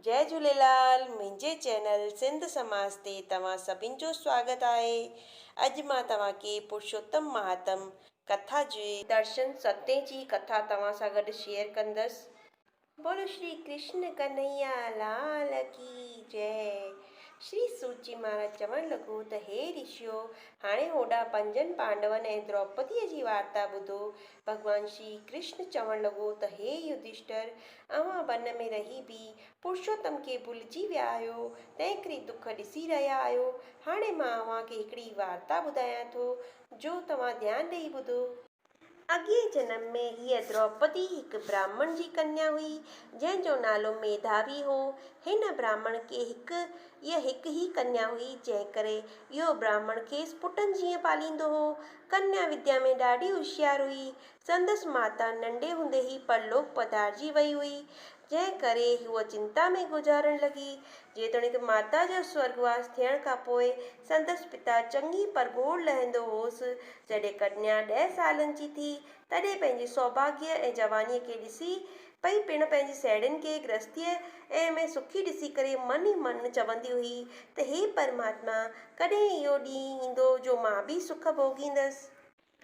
جئي جهوليلال منهنجي چينل سنڌ سماج تي توهان سڀن جو سواگت آهي اڄ مان توهان کي پرشوتم مهاتم ڪٿا جي درشن ستين جي ڪٿا توهان سان گڏ شيئر ڪندس بولو شري ڪرشن ڪنهيا لال ڪي جئي شري سوتجي مهاراج چوڻ لڳو ته هي رشيو هاڻي هوڏا پنجن پانڊون ۽ دروپديء جي وارتا ٻڌو ڀڳوان شري ڪرشن چوڻ لڳو ته هي يڌشٽر، اوهان ون ۾ رهي به پرشوتم کي ڀلجي ويا آهيو، تنهنڪري دک ڏسي رهيا آهيو. هاڻي مان اوهان کي هڪڙي وارتا ٻڌايان ٿو، جو توهان ڌيان ڏيئي ٻڌو. اڳئين جنم ۾ هيء دروپدي هڪ براهمڻ جي ڪنيا هئي، جنهن جو نالو ميڌاوي هو. هن براهمڻ کي هڪ ئي هڪ ئي ڪنيا هئي، جنهنڪري اهو براهمڻ کيس پٽن جيئن پاليندو هو. ڪنيا وديا ۾ ڏاڍي هوشيار هئي. سندس ماتا ننڍي هوندي ئي پرلوڪ پڌارجي وئي هئي، جنهن ڪري هوء چنتا ۾ گذارڻ لڳي. جيتوڻيڪ ماتا جو سورڳواس ٿيڻ کان پوء سندس پتا چڱي پرگهور لهندو هوس. جڏهن ڪنيا ڏهه سالن جي ٿي، تڏهن پنهنجي سوڀاڳيء ۽ جوانيء کي ڏسي پئي پڻ پنهنجي سهيڙين کي گرهستيء ۾ سکي ڏسي ڪري من ئي من چوندي هئي ته هي پرماتما! ڪڏهن اهو ڏينهن ايندو جو مان به سک ڀوڳيندس؟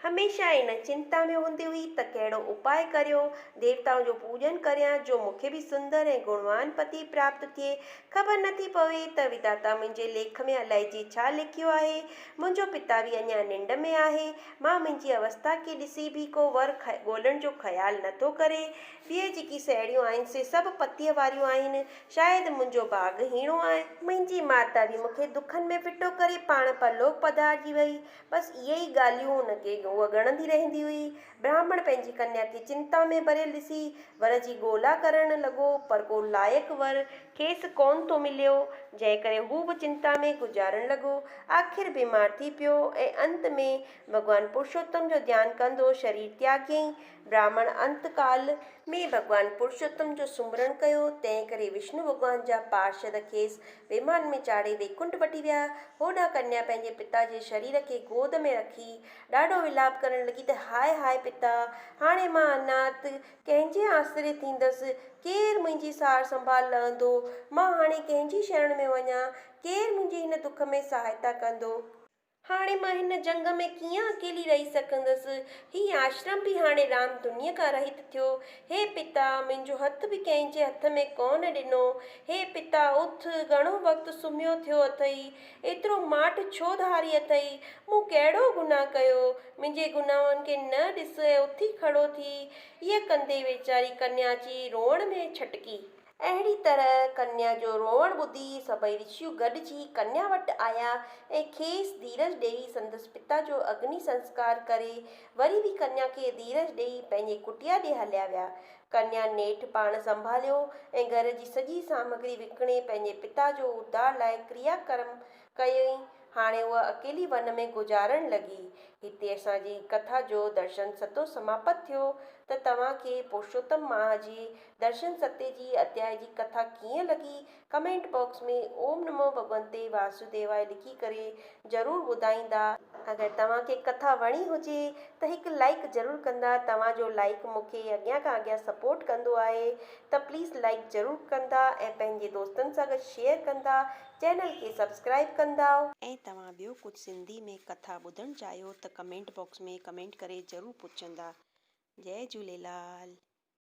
هميشه ان چنتا ۾ هوندي هئي ته ڪهڙو اپاء ڪريو، ديوتائن جو پوڄن ڪريان جو مون کي به سندر ۽ گڻوان پتي پراپت ٿئي. خبر نه ٿي پوي ته وداتا منهنجي ليک ۾ الائجي ڇا لکيو آهي. منهنجو پتا به اڃا ننڊ ۾ آهي مان منهنجي اوستا کي ڏسي به ڪو ور ڳولڻ جو خيال نه ٿو ڪري. ٻيئي جيڪي سهيڙيون آهن سي سڀ پتيء واريون آهن. شايد منهنجو ڀاڳ هيڻو آهي. منهنجي ماتا به مون کي دکن ۾ ڦٽو ڪري پاڻ پرلوڪ پڌارجي وئي. بس اهي ئي ڳالهيون هن کي هوء ڳڻندي رهندي هئي. براهمڻ پنهنجي ڪنيا کي چنتا ۾ ڀريل ڏسي ور جي ڳولا ڪرڻ لڳو پر ڪو لائق ور کيس ڪونه ٿو مليو، جنهن ڪري هو به چنتا ۾ گذارڻ لڳو. آخر بيمار ٿي پيو ۽ انت ۾ ڀڳوان پرشوتم جو ڌيان ڪندو شرير تياگيائين. براهمڻ انت ڪال. ۾ ڀڳوان پرشوتم جو سمرڻ ڪيو، تنهن ڪري وشنو ڀڳوان جا پارشد کيس ويمان ۾ چاڙهي ويڪنٺ وٺي ويا. هوڏانهن ڪنيا پنهنجي پتا جي شرير کي گود ۾ رکي ڏاڍو ولاپ ڪرڻ لڳي ته هاء هاء پتا! هاڻي مان انات ڪنهن جي آسري ٿيندس؟ ڪير منهنجي سار سنڀال لهندو؟ مان هاڻي ڪنهن جي شرڻ ۾ وڃان؟ ڪير منهنجي هن دک ۾ سهائتا ڪندو؟ هاڻي مان هن جهنگ ۾ ڪيئن اڪيلي رهي سگهندس؟ هي آشرم به هاڻي رام دنيء کان رهيت ٿيو. هي پتا! منهنجو هٿ به ڪنهن جي هٿ ۾ ڪونه ڏنو. هي پتا! اٿ، گهڻو وقت سمهيو ٿيو اٿئي. ايترو ماٺ ڇو ڌاري اٿئي؟ مون ڪهڙو گناهه ڪيو؟ منهنجي گناهن کي نه ڏس ۽ اٿي کڙو ٿي. هيء ڪندي ويچاري ڪنيا اچي روئڻ ۾ ڇٽڪي. اهڙي طرح ڪنيا جو روئڻ ٻڌي سڀئي رشيون گڏجي ڪنيا وٽ آيا ۽ کيس ڌيرج ڏيئي سندس پتا جو اگني سنسڪار ڪري وري به ڪنيا کي ڌيرج ڏيئي پنهنجي ڪٽيا ڏي هليا ويا. ڪنيا نيٺ پاڻ سنڀاليو ۽ گهر جي سڄي سامگري وڪڻي پنهنجي پتا جو اڌار لاء ڪريا ڪرم ڪيائين. هاڻي هوء اڪيلي ون ۾ گذارڻ لڳي. هتي اسان جي ڪٿا جو درشن ستو سماپت ٿيو ته توهان کي پرشوتم ماهه جي درشن ستي جي اڌيائي جي ڪٿا ڪيئن لڳي ڪمينٽ باڪس ۾ اوم نمو ڀڳونتي واسوديواي لکي ڪري ضرور ٻڌائيندا. اگر توهان کي ڪٿا وڻي هجي ته هڪ لائيڪ ضرور ڪندا توهان جو لائيڪ مون کي اڳيان کان اڳيان سپورٽ ڪندو آهي ته پليز لائيڪ ضرور ڪندا ۽ پنهنجي دوستن سان گڏ شيئر ڪندا چينل کي سبسڪرائيب ڪندا. ۽ توهان ٻيو ڪجهه سنڌي ۾ ڪٿا ٻڌڻ چاهيو ته ڪمينٽ باڪس ۾ ڪمينٽ ڪري ضرور پڇندا. جئي جهوليلال.